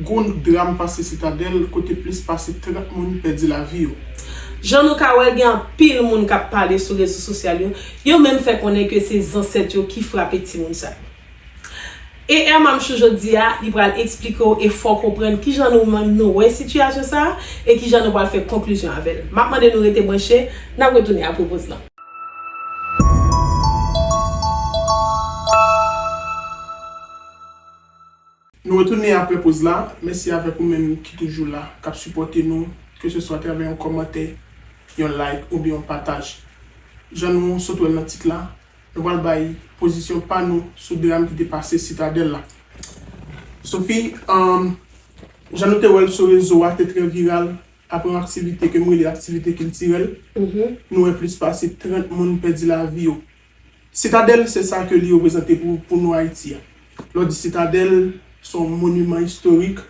Gwo dram pase Sitadèl kote plis pase 30 moun pèdi lavi yo. Jan nou ka wè gen anpil moun kap pale sou rezo sosyal yo, yo menm fè konnen ke se zansèt yo ki frape timoun sa yo. E Hermamchou jodi a, li pral eksplike w e fè w konprann kijan nou menm nou wè sitiyasyon sa a e kijan nou pral fè konklizyon avè l. Map mande nou rete branche, nap retounen apre poz lan. Nou retounen aprè poz la, mèsi avèk ou menm ki toujou la, kap sipòte nou, ke se swa atravè yon kòmantè, yon like oubyen yon pataj. Jan nou sot wèl nan tit la, nou pral bay pozisyon pa nou sou dram ki te pase Sitadèl la. Sophie, umm jan nou te wèl sou rezo a te trè viral aprè yon aktivite ke m rele aktivite kiltirèl, nou wè plis pase 30 moun pèdi lavi yo. Sitadèl se sa ke li reprezante pou nou Ayiti a. Lè w di sitadèl, se yon moniman istorik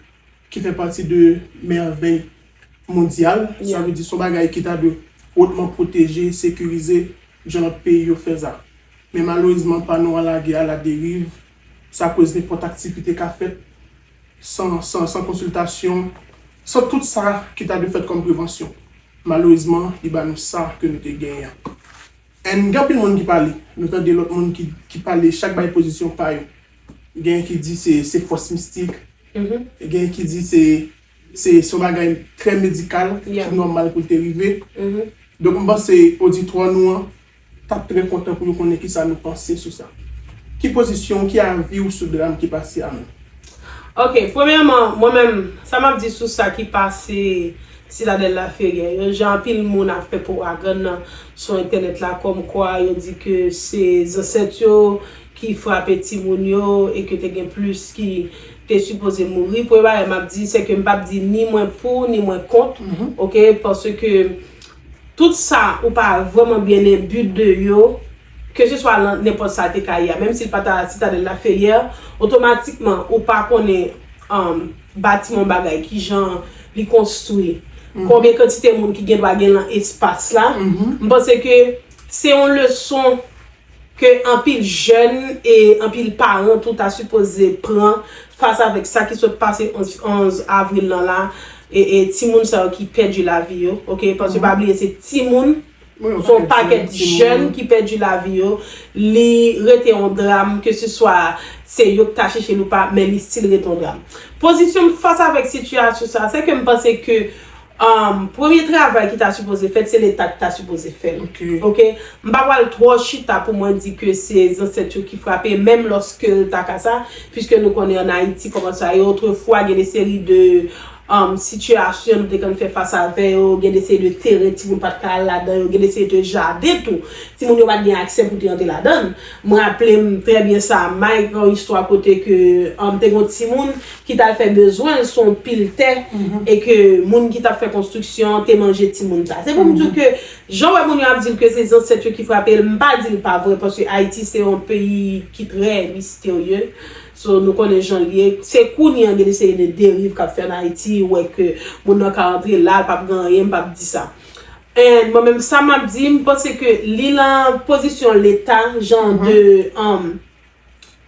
ki fè pati de mèvèy mondyal. Sa vle di se yon bagay ki ta dwe otman pwoteje, sekirize, jan lòt peyi yo fè sa. Men malerezman pa nou an lage a la deriv, sa koz nenpòt aktivite ka fèt san konsiltasyon, san tout sa ki ta dwe fèt kòm prevansyon. Malerezman li ba nou sa ke nou te genyen an. N gen anpil moun ki pale. Nou tande lòt moun ki pale chak bay pozisyon pa yo. Genyen ki di se fòs mistik, genyen ki di se yon bagay trè medikal ki nòmal pou l te rive. Donk m panse oditwa nou an t ap trè kontan pou yo konnen kisa nou panse sou sa. Ki pozisyon w, ki avi w sou dram ki pase a menm? Ok premyèman mwen menm sa map di sou sa ki pase Citadelle la Ferrière yo jan anpil moun ap fè powagann nan sou entènèt la kòm kwa yo di ke se zansèt yo ki frape timoun yo e ke te gen plis ki te sipoze mouri premye bagay map di se ke mpap di ni mwen pou ni mwen kont ok paske tout sa ou pa vrèman byen enbi de yo. Keseswa lan nenpòt sa te ka ye a, menm si l pa ta Citadelle la Ferrière, otomatikman ou pa konnen batiman yon bagay, ki jan li konstwi, konbyen kantite moun ki gen dwa gen lan espas la. M panse ke se yon leson ke anpil jèn e anpil paran tou ta sipoze pran fas avèk sa ki sot pase 11 avril lan la e timoun sa yo ki pèdi lavi yo, ok, paske pa bliye se timoun. Gon pakèt jèn ki pèdi lavi yo, li rete yon dram ke se swa se yo ki ta chèche l ou pa, men li stil rete yon dram. Pozisyon m fas avèk sitiyasyon sa a, se ke m panse ke premye travay ki ta sipoze fèt, se leta ki ta sipoze fè l. Ok. M pa pral twò chita pou mwen di ke se zansèt yo ki frape, menm lòske l ta ka sa, piske nou konnen an Ayiti kòman sa ye, otrefwa gen de seri de sitiyasyon nou te konn fè fas avè yo, gen de seri de teren timoun pa t ka al ladan yo, gen de seri de jaden tou, timoun yo pa t gen aksè pou te antre ladan l. M raple m trè byen sa, Mike, yon istwa kote ke te gen yon timoun ki t al fè bezwen l sou yon pil tè e ke moun ki t ap fè konstriksyon an te manje timoun sa. Se pou m di w ke jan w wè moun yo ap di l ke se zansèt yo ki frape l, m pa di l pa vre paske Ayiti se yon peyi ki trè misterye. So nou konnen jan l ye. Se kounye an gen de seri de deriv k ap fè an Ayiti, ou wè ke moun nan ka antre la, l p ap gen anyen, m p ap di sa. And mwen menm sa m ap di, m panse ke li lan pozisyon leta jan de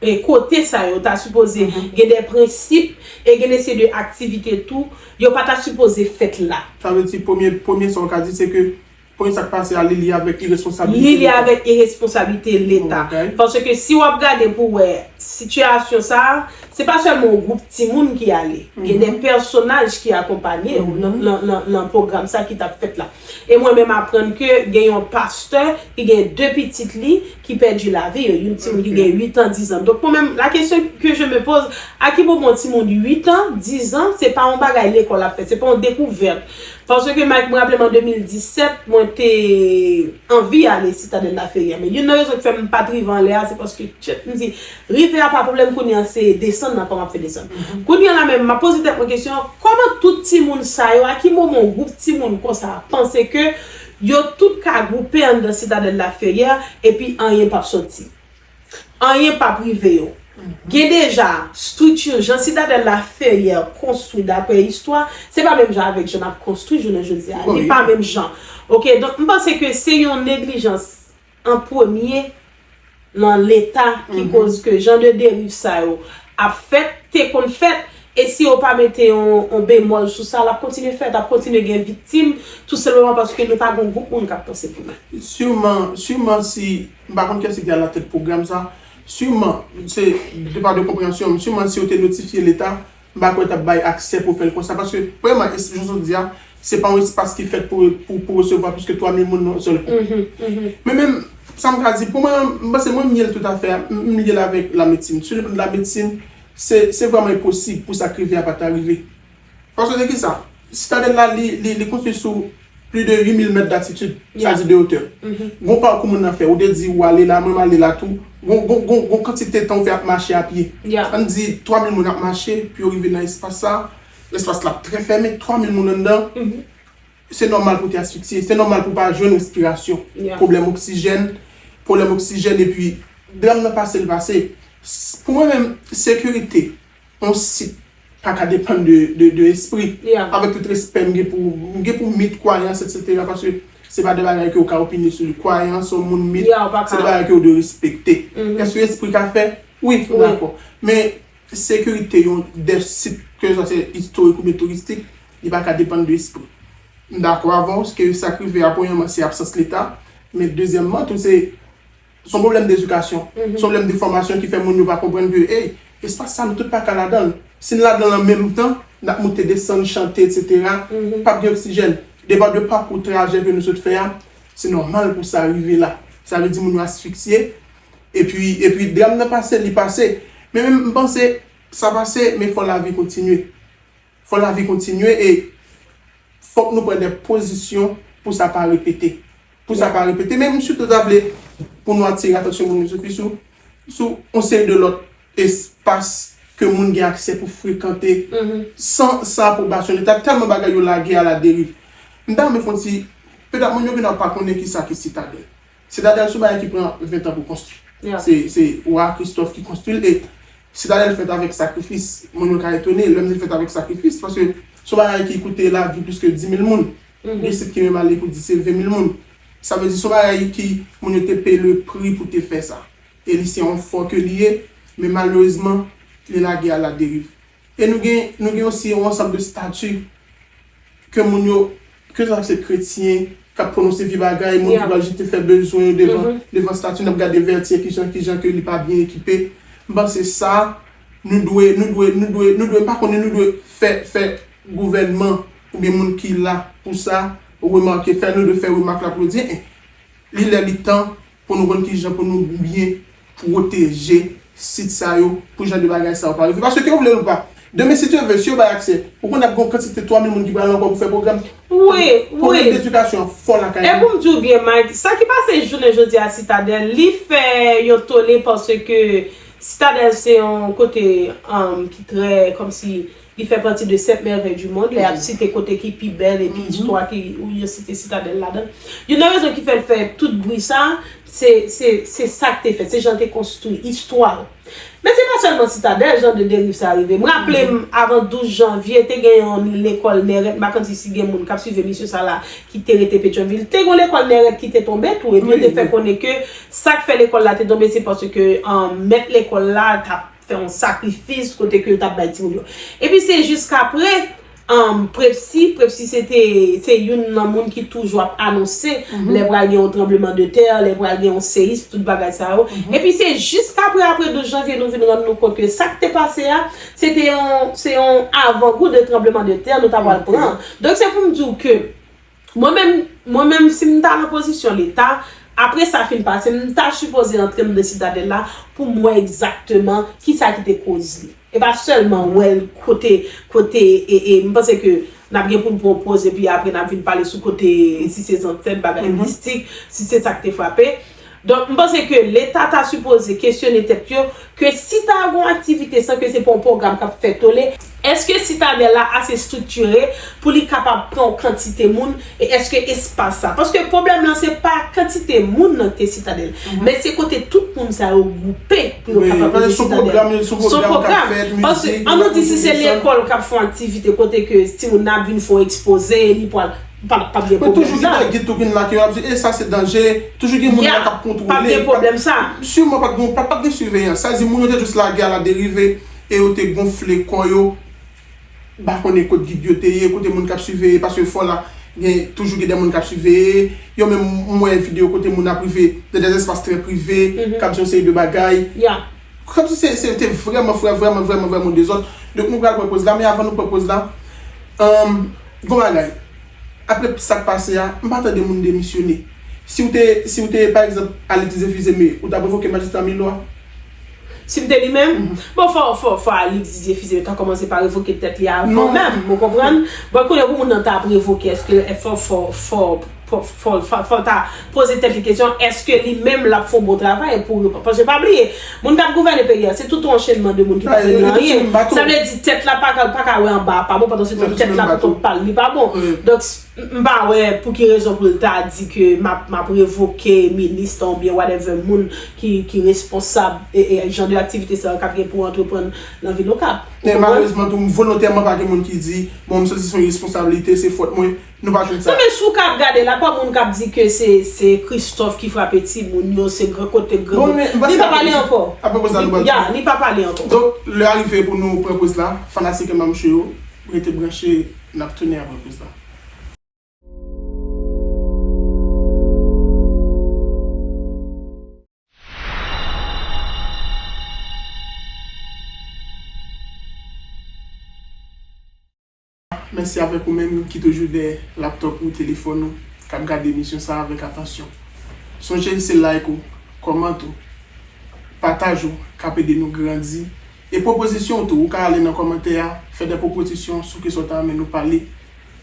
e kote sa yo ta sipoze gen de prensip e gen de seri de aktivite tou, yo pa ta sipoze fèt la. Sa vle di premye, premye sa ou ka di se ke Konye sak pase a li li avek iresponsabilite leta. Li li avek iresponsabilite leta. Parce que si wap gade pou wè situation sa, se pa selman yon groupe ti moun ki ale. Gen des personnages ki akonpanye yo nan program sa ki tap fèt la. E mwen menm aprann ke gen yon pasteur ki gen 2 pitit li ki pèdi la vie yo. Yon ti moun ki gen 8 ans, 10 ans. Donc mwen menm la question que je me pose, a ki moman yon ti moun 8 ans, 10 ans, se pa yon bagay lekol ap fè, se pa yon decouverte Paske Mike m raplem an 2017 mwen te anvi ale Citadelle la Ferry a men youn nan rezon ki fèm pat rive anlè a se paske tchyet m di rive a pa pwoblèm kounye a se desann nan kòman ap fè desann kounye a la menm map poze tèt mwen kesyon kòman tout timoun sa yo a ki moman yon gwoup timoun konsa panse ke yo tout ka gwoupe anndan Citadelle la Ferrière epi anyen pap sòti Anyen p ap rive yo. Gen deja, structure, jan Sitadèl la Ferrier konstwi daprè istwa, se pa menm jan avèk jan n ap konstwi jounen jodi a. Li pa menm jan. Ok, donk m panse ke se yon neglijans an premye nan Leta ki koz ke jan de deriv sa yo ap fèt, te konn fèt, e si yo pa mete yon bemòl sou sa, l ap kontinye fèt, ap kontinye gen viktim, tou senpleman paske nou pa gen yon gwoup moun k ap panse pou nou. Sûrement, sûrement si. M pa konn kiyès ki alatèt pwogram sa. Siman, se de par de konpreyansyon m, siman si yo te notifye leta, m pa kwè yo t ap bay aksè pou yo fè l konsa. Paske, premyèman, es, jounen jodi a, se pa yon espas ki fèt pou, pou, pou resevwa plis ke 3 mil moun nan yon sèl kou. Men menm, sa m ka di, pou mwen menm, m panse mwen m lye l toutafè a, m lye l avèk lamedsin. Sou le plan de lamedsin, se, se vrèman enposib pou sa k rive a pa ta rive. Paske de kisa? Sitadèl la li konstwi sou pli de 8 mil mèt d'atitid, sa di de otè. Gon pakou moun nan fè, ou te di ou ale la, mwen m'ale la tou, gon kantite tan ou fè ap mache a pye. Ann di 3 mil moun ap mache pou yo rive nan espas sa, espas la ap trè fèmen, 3 mil moun anndan, se nòmal pou te asfiksye, se nòmal pou pa jwenn respirasyon, pwoblèm oksijèn, pwoblèm oksijèn epi dram nan pase li pase. Pou mwen menm, sekirite. On site paka depann de espri. Avèk tout respè m gen pou m gen pou mit, kwayans etc. Paske se pa de bagay ke ou ka opine sou li. Kwayans on moun, mit, se de bagay ke ou dwe respekte. Eske espri ka fè? Wi, m dakò. Men sekirite yon de sit ke sa se istorik oubyen touristik, li pa ka depann de espri. M dakò avè w ke sa k rive a premyèman se absans leta, men dezyèmman tou se Son pwoblèm dedikasyon, son pwoblèm de fòmasyon ki fè moun yo pa konprann ke ey, espas sa nou tout pa ka ladan l. Si n ladan l an menm tan, n ap moute desann, chante etc. Pa p gen oksijèn. Depa de pakou trajè ke nou sot fè a, se nòmal pou sa rive la. Sa vle di moun yo asfiksye. Epi, epi dram nan pase, li pase. Men men m panse, sa pase, men fò lavi kontinye. Fò lavi kontinye e fòk nou pran dè pozisyon pou sa pa repete. Pou sa pa repete. Men m sitou ta vle pou nou atire atansyon moun yo sou ki sou sou yon seri de lòt espas ke moun gen aksè pou frekante san san apwobasyon leta tèlman bagay yo lage a la deriv. M ta renmen fon ti petèt moun yo gen nan pa konnen ki sa ki sitadèl. Sitadèl sou bagay ki pran 20 an pou konstwi. Se Wa Kristòf ki konstwi l e Sitadèl fèt avèk sakrifis. Moun yo ka etone lè m di l fèt avèk sakrifis paske se yon bagay ki koute lavi pliske dimil moun. Gen disip ki menm ale pou di se venmil moun. Sa vle di se yon bagay ki moun yo te peye le pri pou te fè sa. E li se yon fò ke li ye men malerezman li lage a la deriv. E nou gen nou gen osi yon ansanm de stati ke moun yo, ke sa se kretyen k ap pwononse vye bagay, moun ki pral jete fè bezwen yo devan devan stati n ap gade Vertier kijan kijan ke li pa byen ekipe. M panse sa nou dwe nou dwe nou dwe nou dwe m pa konnen nou dwe fè fè gouvènman oubyen moun ki la pou sa remake fè nou dwe fè remak la pou yo di e li lè li tan Pou nou konn kijan pou nou byen pwoteje sit sa yo pou jan de bagay sa yo pa rive. Paske ke ou vle ou pa, demen si Dye ve, si yo bay aksè, ou konn ap gen yon kantite 3000 moun ki pral ankò pou fè pwogram. Wi, wi. Pwoblèm d'edikasyon an fò lakay nou. E pou m di ou byen Mike, sa ki pase jounen jodi a Sitadèl, li fè yon tole paske Sitadèl se yon kote ki trè kòmsi. Li fè pati de 7 mèvèy di mond, lè y ap site kote ki pi bèl epi istwa ki ou yo site Sitadèl ladan. Youn nan rezon ki fè l fè tout bri sa a, se se se sa k te fèt, se jan l te konstwi, istwa l. Men se pa sèlman Sitadèl jan de deriv sa a rive. M raple m avan 12 janvye, te gen yon lekòl Nèrèt, m pa konn si gen moun k ap suiv emisyon sa a la ki te rete Petyonvil. Te gen yon lekòl Nèrèt ki te tonbe tou epi yo te fè konnen ke sa k fè lekòl la te tonbe se paske mèt lekòl la t ap fè yon sakrifis kote ke yo tap bay timoun yo. Epi se jiskapre Prepsi, Prepsi se te se youn nan moun ki toujou ap anonse lè pral gen yon tranbleman de tè, lè pral gen yon seyis, tout bagay sa yo. Epi se jiskapre apre 12 janvye nou vin rann nou kont ke sak te pase a, se te yon se yon avangou de tranbleman de tè nou ta pral pran. Donk se pou m di w ke Mwen menm, mwen menm si m ta nan pozisyon leta, apre sa fin pase, m ta sipoze antre m nan sitadèl la pou m wè egzakteman kisa ki te koz li. E pa sèlman wè l kote, kote e, e m panse ke n ap gen pou n pran yon poz epi apre n ap vin pale sou kote si se zansèt, bagay mistik, si se sa k te frape. Donk, m panse ke Leta ta sipoze kesyone tèt yo, ke si ta gon aktivite san ke se pa yon pwogram k ap fè tole, èske Sitadèl la ase striktire pou li kapab pran yon kantite moun e èske espas sa. Paske pwoblèm lan se pa kantite moun nan ke Sitadèl, men se kote tout moun sa yo gwoupe pou yo kapab mete Sitadèl. Son pwogram. Paske, an nou di si se lekòl k ap fè yon aktivite kote ke timoun nan ap vin fè yon ekspoze, li pral. Men toujou gen nan gid tou ki make yo ap di e sa se danje, toujou gen moun la kap kontwole. Pap gen pwoblèm sa. Siman pat gen, pat gen siveyans. Sa vle di moun yo te jis lage a la derive e yo te gonfle kò yo m pa konnen kot gid yo te ye, kote moun kap siveye paske fò la gen toujou gen de moun kap siveye yo menm m wè videyo kote moun ap rive nan de espas trè prive kap di yon seri de bagay. Kòm si se yo te vrèman frè vrèman vrèman vrèman ou dezòd donk nou pral pran poz la men avan nou pran poz la humm gon bagay aprè tout sak pase a m pa tande moun demisyone si w te si w te pa egzanp Alix Dieufuseme ou tap revoke majistra Milo a? Si m te li menm? Bon fò fò fò Alix Dieufuseme ta kòmanse pa revoke tèt li avan menm ou konprann bon kounye pou moun nan ta ap revoke eske fò fò fò. Fòl ta poze tèt li kesyon eske li menm lap fon bon travay pou yo paske pa bliye moun kap gouvène peyi a se tout yon anchenman de moun ki pa konn anyen sa vle di tèt la paka wè anba a pa bon pandan se tan tèt la pou kont pal li pa bon donk m pa wè pou ki rezon pou l ta di ke map revoke minista ou byen whatever moun ki responsab jan de aktivite sa yo kap gen pou antreprann nan vil okap. Men malerezman tou m volontèman pa gen moun ki di bon m santi se yon responsabilite se fòt mwen Nou pa jwenn sa. Sa vle si w ka ap gade la pa moun k ap di ke se se Christophe ki frape timoun yo se gran kote k granmoun li pa pale ankò ya li pa pale ankò. Donk lè a rive pou nou pran poz la fanatik e mamche yo rete branche n ap tounen apre poz la. Mèsi avèk ou menm ki toujou dèyè laptop ou, telefòn ou, k ap gade emisyon sa a avèk atansyon. Sonje l se like ou, comment ou, pataj ou k ap ede nou grandi e pwopozisyon ou tou. Ou ka ale nan kòmantè a, fè dè pwopozisyon sou ke sa w ta renmen nou pale.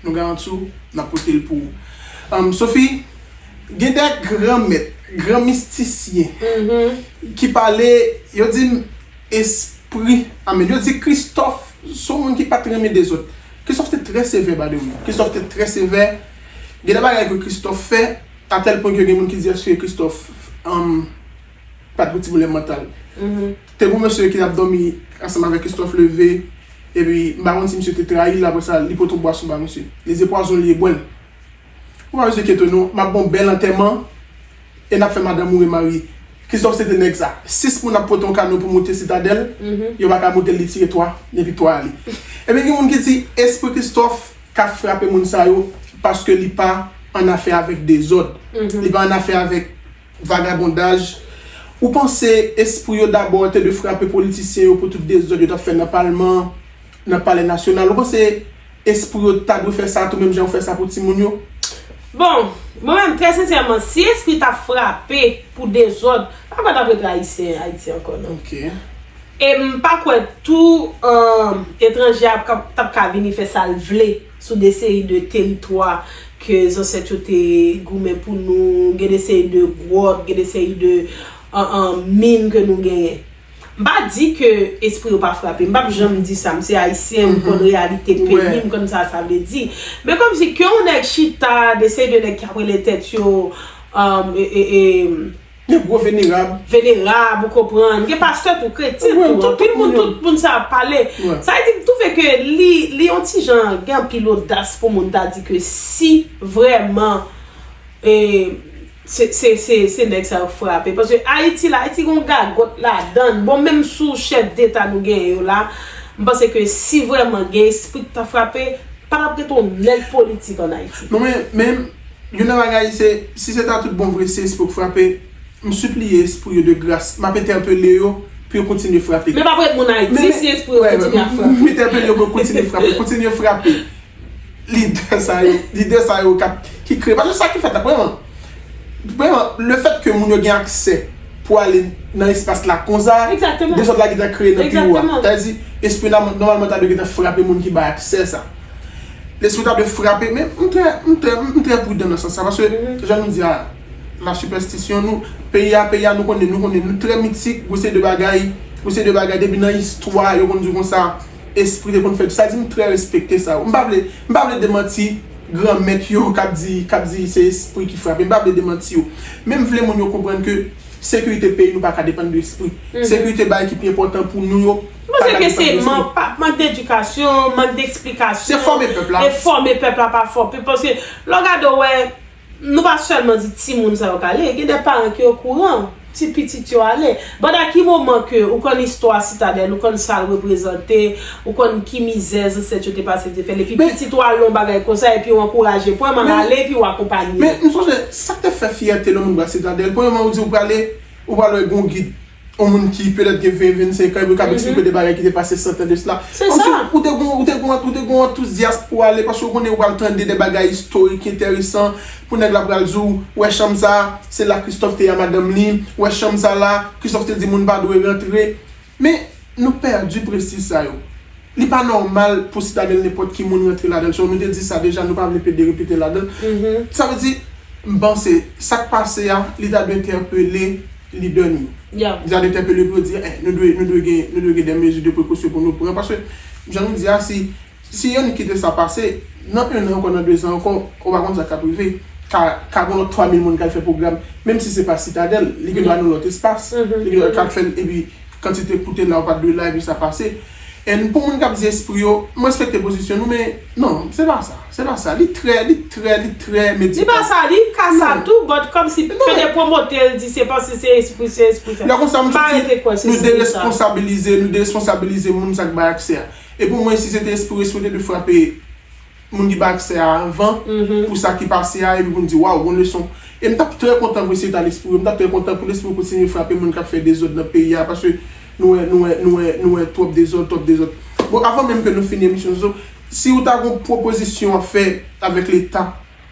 Nou garanti w n ap pote l pou ou. Sophie, gen dè gran mèt, gran mistisyen ki pale, yo di m espri, anmn, yo di Christophe Son moun ki pat renmen dezod. Christophe te trè sevè by the way Christophe te trè sevè Gen de bagay ke Christophe fè a tèl pwen ke gen moun ki di èske Christophe pat gen ti pwoblèm mantal Te gen yon mesye ki tap dòmi ansanm avèk Christophe leve epi m pa konn si misye te trayi l aprè sa li pote yon bwason ba misye Li di se pwazon li ye bwè l Ou pa bezwen enkyetew non map ba w bèl antèman E nap fè madanm ou remarye. Christophe se te nèg sa. 6 moun ap pote yon kano pou moute sitadèl, yo pa ka moute l li tire 3, epi 3 ale. Ebyen gen moun ki di espri Christophe ka frape moun sa yo paske li pa annafè avèk dezòd, li pa annafè avèk vagabondaj. Ou panse espri yo dabò te dwe frape politisyen yo pou tout dezòd yo t ap fè nan palman? Nan palè nasyonal. Ou panse espri yo ta dwe fè sa tou menm jan yo fè sa pou timoun yo? Bon, mwen menm trè sensèman, si espri ta frape pou dezòd, pa kwè tap rete ayisyen Ayiti ankò non. E m pa kwè tou etranje a tap ka vini fè sa l vle sou de seri de teritwa ke zansèt yo te goumen pou nou, gen de seri de gwòt, gen de seri de min ke nou genyen. M pa di ke espri yo pa frape, m pap janm di sa, m se ayisyen, m konn reyalite peyi m, m konn sa sa vle di. Men kòm si ke yon nèg chita, de seri de nèg ki ap rele tèt yo, eee. Yon gwo venerab. Venerab, ou konprann. Gen pastè tou, kretyen tou. Tout moun moun yo. Tout moun sa ap pale. Sa vle di m twouve ke li, li yon ti jan gen anpil odas pou moun ta di ke si vrèman, eee. Se nèg sa yo k frape. Paske Ayiti la, Ayiti gen yon gagòt ladan l. Bon menm sou chèf deta nou genyen yo la, m panse ke si vrèman gen espri k ta frape, pa t ap ret yon nèg politik an Ayiti. Non men, men, youn nan bagay se, si se ta tout bon vre se espri yo k frape, m sipliye espri yo de gras, m ap entèpele yo pou yo kontinye frape. Men pa pou yo t moun Ayiti si espri yo kontinye ap frape. M entèpele yo pou yo kontinye frape, kontinye frape. Lidè sa yo, lidè sa yo kap, ki kreye, paske sa ki fèt la premyèman, premyèman le fèt ke moun yo gen aksè pou ale nan espas la konsa, Egzakteman. dezòd la gentan kreye nan biwo a. Egzakteman. Sa vle di lespri la nòmalman ta dwe gentan frape moun ki bay aksè sa. Lespri ta dwe frape men m trè, m trè, m trè prudan nan sans sa paske jan nou di a la sipèstisyon nou, peyi a, peyi a nou konnen, nou konnen nou trè mitik, gwo seri de bagay, gwo seri de bagay depi nan istwa yo konn di konsa. espri te konn fè tout sa di m trè respekte sa wi m pa vle m pa vle demanti gran mèt yo k ap di k ap di se espri ki frape m pa vle demanti yo men m vle moun yo konprann ke sekirite peyi nou pa ka depann de espri sekirite bagay ki pi enpòtan pou nou yo pa ka depann de espri. Mank d'edikasyon, mank d'eksplikasyon, e fòme pèp la pa fòme paske lè w gade w wè. Nou pa sèlman di timoun sa yo k ale, gen de paran ki okouran, ti pitit yo ale. But a ki moman ke ou konn istwa Sitadèl, ou konn sa l reprezante, ou konn ki mizè zansèt yo te pase te fè l, epi pitit ou al nan yon bagay konsa epi ou ankouraje, premyèman ale epi ou akonpanye. Men, m sonje, sa k te fè fyète nan moun Bras Sitadèl, premyèman ou di ou prale, ou pral wè gen yon gid. On moun ki petèt gen 20, 25 an epi ou kab eksplike de bagay ki te pase 100 tan de sla. Se sa! Kòmsi ou te gon, ou te gon, ou te gon antouzyas pou ale paske ou konnen ou pral tande de bagay istorik enteresan pou nèg la pral di w, wè chanm sa, se la Kristòf te a madanm li, wè chanm sa la, Kristòf te di moun pa dwe rantre. Men, nou pèdi prestij sa yo. Li pa nòmal pou Citadelle nenpòt ki moun rantre ladan l so nou te di sa deja nou pa vle plede repete ladan l sa vle di m panse sa k pase a li ta dwe entèpele lidè nou yo li ta dwe entèpele yo pou yo di eh nou dwe nou dwe gen nou dwe gen dè mezi de prekosyon pou nou pran paske jan nou di a si si Yanick kite sa pase nan 1 an ankò nan 2 zan ankò ou pa konn sa k ap rive ka ka gen lòt 3 mil moun k al fè pwogram menm si se pa Citadelle li gen dwa nan lòt espas li gen dwa ka fè l epi Kantite koute la ou pat dwe la epi sa pase and pou moun kap di espri yo m respekte pozisyon nou men non se pa sa se pa sa li trè li trè li trè medikal. Li pa sa li ka sa tou but kòmsi pede promote l di se paske se espri se espri sa lè konsa m santi nou deresponsabilize nou deresponsabilize moun sa k bay aksè a e pou mwen si se te espri yo espri yo te dwe frape moun ki pa aksè a anvan pou sa ki pase a epi pou nou di waw gon leson e m tap trè kontan pou seta lespri yo m tap trè kontan pou lespri yo kontinye frape moun kap fè dezòd nan peyi a paske nou wè nou wè nou wè nou wè twòp dezòd twòp dezòd bon avan menm ke nou fini emisyon zozo si ou ta gon pwopozisyon wap fè avèk leta.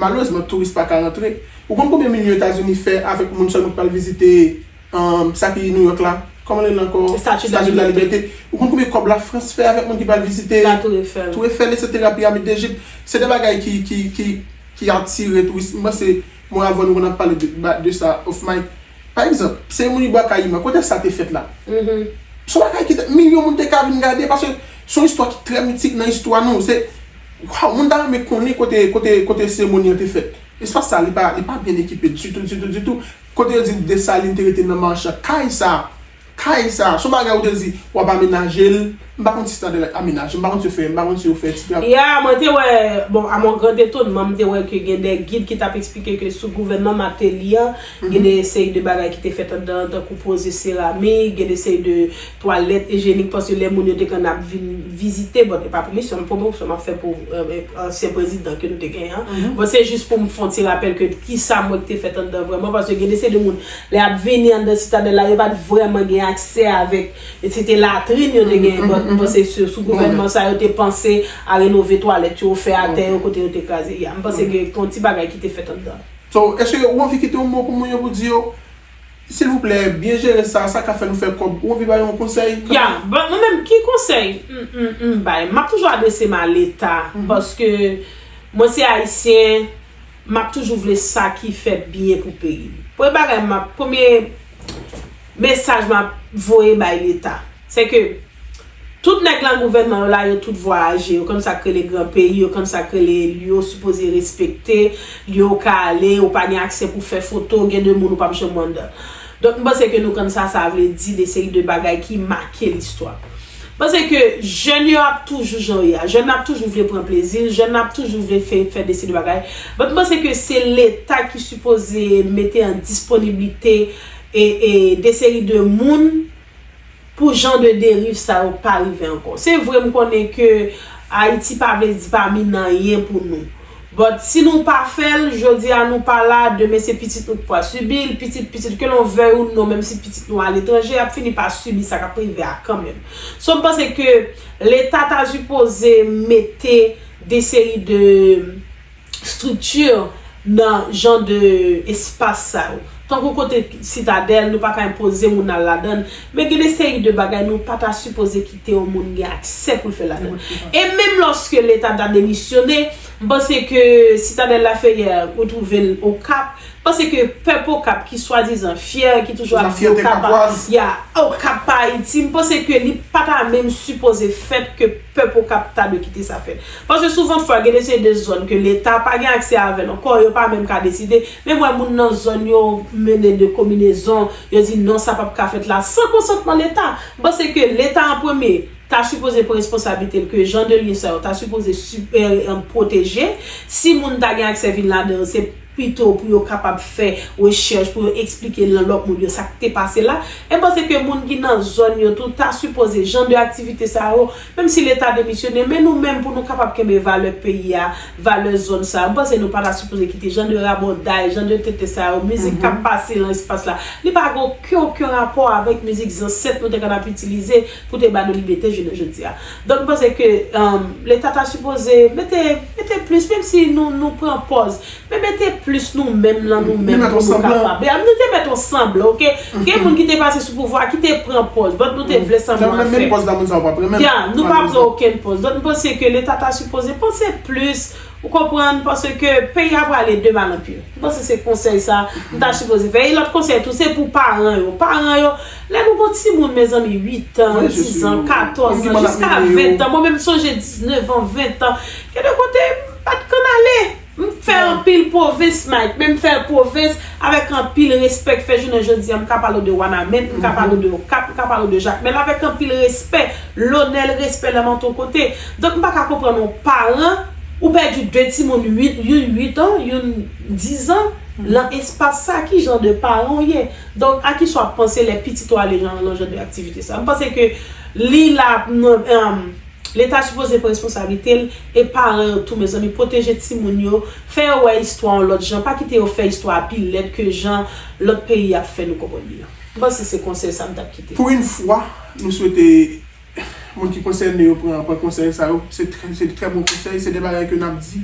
Malerezman touris pa ka rantre. Ou konn konbyen milyon etazini fè avèk moun sèlman ki pral vizite sa ki New York la, kòman li rele ankò, Statue de la Liberté. Ou konn konbyen kòb la France fè avèk moun ki pral vizite La Tour Eiffel. Tour Eiffel etc pyramid d'Egypte. Se 2 bagay ki atire touris. M panse mwen avèw nou konn ap pale de sa off mic. Pa egzanp, seremoni Bwa Kayiman, kote sa te fèt la? Son bagay ki te, milyon moun te ka vin gade paske son istwa ki trè mitik nan istwa nou. Se. Waw mwen ta renmen konnen kote kote kote seremoni an te fèt espas sa li pa li pa byen ekipe ditou ditou ditou kote yo di Dessalines te rete nan marche an kay sa kay sa son bagay ou te di wap amenaje l m pa konn si se ta te amenaje m pa konn si yo fè m pa konn si yo fè ti tra. Ya mwen te wè bon a mon grand etonman m te wè ke gen de gid ki tap eksplike ke sou gouvènman Martelly an gen de seri de bagay ki te fèt andan an tankou poze seramik gen de seri de twalèt ejyenik paske lè moun yo te konn ap vin vizite bon e pa pou misyon m pwomosyon m ap fè pou ansyen prezidan ke nou te genyen an bon se jis pou m fon ti rapèl ke kisa m wè ki te fèt anndan vrèman paske gen de se de moun lè y ap vini anndan sitadèl la yo pa t vrèman gen aksè avèk se te latrin yo te genyen bon m panse se sou gouvènman sa yo te panse a renove twalèt yo fè atè yo kote yo te kraze ya m panse gen yon ti bagay ki te fèt anndan. So eske ou anvi kite yon mo pou moun yo pou di yo. Silvouplè byen jere sa, sa ka fè nou fè kòb ou anvi bay yon konsèy kanmenm. Ya, but mwen menm ki konsèy m m bay? Map toujou adrese m a leta paske mwen se ayisyen map toujou vle sa ki fè byen pou peyi m. Premye bagay map premye mesaj map voye bay leta. Se ke, tout nèg lan gouvènman yo la yo tout vwayaje, yo konn sa k rele gran peyi, yo konn sa k rele li yo sipoze respekte, li yo w ka ale, ou pa gen aksè pou fè foto, gen de moun ou p ap janm wè anndan. Donk m panse ke nou konn sa sa vle di de seri de bagay ki make listwa. M panse ke jèn yo ap toujou jan yo ye a. Jèn nan ap toujou vle pran plezi l, jèn nan ap toujou vle fè fè de seri de bagay. But m panse ke se leta ki sipoze mete an disponiblite e e de seri de moun, pou jan de deriv sa yo pa rive ankò. Se vre m konnen ke Ayiti pa vle di pa min anyen pou nou. But si nou pa fè l, jodi a nou pa la, demen se pitit nou ki pral sibi l, pitit pitit ke lon vèy ou non menm si pitit nou aletranje ap fini pa sibi sa kap rive a kanmenm. So m panse ke leta ta sipoze mete de seri de. structure nan jan de espas sa yo. Tankou kote sitadèl nou pa ka enpoze moun al ladann, men gen de seri de bagay nou pa ta sipoze kite yon moun gen aksè pou l fè ladann. E menm lòske leta ta demisyone, m panse ke sitadèl Lafeyè ou twouve l Okap, m panse ke pèp Okap ki swadizan fyè, ki toujou ap di Okap pa, ya, Okap pa Ayiti, m panse ke li pa ta menm sipoze fèt ke. Pèp Okap ta dwe kite sa fèt. Paske souvan fwa gen de seri de zòn ke leta pa gen aksè avèl ankò, yo pa menm ka deside, menm wè moun nan zòn yo mennen de kominezon, yo di non sa pap ka fèt la san konsantman leta. M panse ke leta an premye ta sipoze pran responsablite l ke jan de lye sa yo ta sipoze si pwoteje, si moun ta gen aksè vin ladan yo se. pito pou yo kapab fè rechèch pou yo eksplike lan lòt moun yo sa k te pase la, e panse ke moun ki nan zòn yo tou ta sipoze jan de aktivite sa yo, menm si leta demisyone, men nou menm pou nou kapab kenbe valè peyi a, valè zòn sa yo, m panse nou pa ta sipoze kite jan de rabòday, jan de tenten sa yo, mizik k ap pase lan espas la, li pa gen oken oken rapò avèk mizik zansèt nou te konn ap itilize pou te ba nou libete jounen jodi a. Donk m panse ke leta ta sipoze mete mete plis menm si nou nou pran pòz men mete plis nou menm lan nou menm pou nou kapab ya nou te mèt on sanblan ok gen moun ki te pase sou pouvwa a ki te pran pòz dòt nou te vle sanblan an fèt ya nou pa pran okenn pòz dòt m panse ke leta ta sipoze panse plis ou konprann panse ke peyi a prale de mal an pi m panse se konsèy sa m ta sipoze fè e lòt konsèy tou se pou paran yo paran yo Lè nou gon timoun mezanmi 8 an, 10 an, 14 an, jiska 20 an, mwen menm m sonje 19 an, 20 an, gen de kote m pa t konn ale. M fè anpil pwovens Mike, men m fè pwovens avèk anpil respè k fè jounen jodi an m ka pale w de Wanament, m ka pale w de Okap, m ka pale w de Jakmèl avèk anpil respè, lonè l respè l an tout kote. Donk m pa ka konprann yon paran ou pèdi 2 timoun 8, youn 8 an, youn 10 an lan espas sa ki jan de paran w ye? Donk, a ki sa w ap panse lè pitit ou ale nan nan jan de aktivite sa? M panse ke li la nan Leta sipoze pran responsablite l e paran yo tou mezanmi pwoteje timoun yo, fè yo wè istwa yon lòt jan, pa kite yo fè istwa a pi lèd ke jan lòt peyi ap fè nou konprann li an. M panse se konsèy sa m t ap kite. Pou yn fwa, nou swete. Moun ki konsène yo pran pran konsèy sa yo, se se trè bon konsèy, se de bagay ke nap di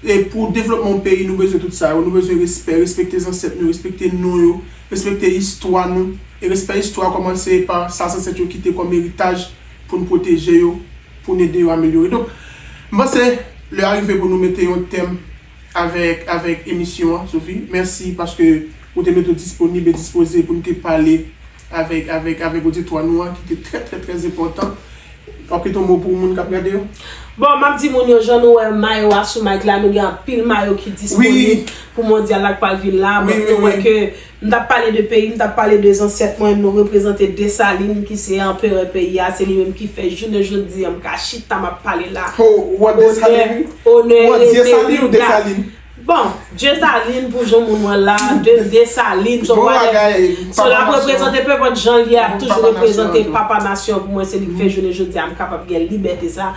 e pou devlopman yon peyi nou bezwen tout sa yo, nou bezwen respè, respekte zansèt nou, respekte non yo, respekte istwa nou, e respè istwa kòmanse pa sa zansèt yo kite kòm eritaj poun pwoteje yo, poun ede yo amelyore. Donk m panse lè a rive pou nou mete yon tèm avèk avèk emisyon an Sophie, mèsi paske ou te mete w disponib e dispoze poun te pale. Avèk, avèk, avèk oditwa nou an ki te trè trè trè enpòtan. W ap kite yon mo pou moun k ap gade yo? Bon, m ap di moun yo, jan nou wè mayo a sou Mike la, nou gen anpil mayo ki disponib pou mondyal la k pral vin la. Bon, nou wè ke m t ap pale de peyi m, m t ap pale de zansèt mwen, nou reprezante Desalin ki se anperè peyi a, se li menm ki fè jounen jodi a m ka chita m ap pale la. Ho, w ap Desalin wi. Onè, onè rete Riga. Bon Dieussaline pou jan moun wèl la de Dessalines so wè so lap reprezante peu pòt janl ye ap toujou reprezante papa nasyon pou mwen se li ki fè jounen jodia m kapab gen libète sa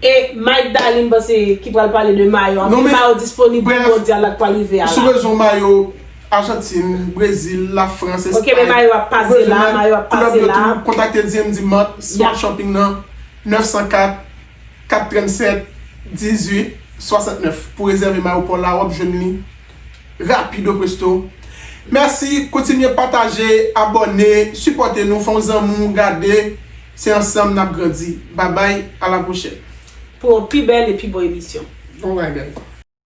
e Mike Daly m panse ki pral pale de mayo anpil mayo disponib pou mondyal la k pral rive a la. Sou bezwen mayo Argentine, Brésil, la France, Espagne. Ok men mayo ap pase la, mayo ap pase la. Klub yo tou kontakte DMD Mart, Smart Shopping nan 904 4, 37, 18, 69 pou rezève mayo paw la wap jwenn li rapido presto mèsi kontinye pataje abòne sipòte nou fè yon zanmiw gade se ansanm nap grandi babay a la pwochèn. Pou yon pi bèl e pi bon emisyon. Bon bagay.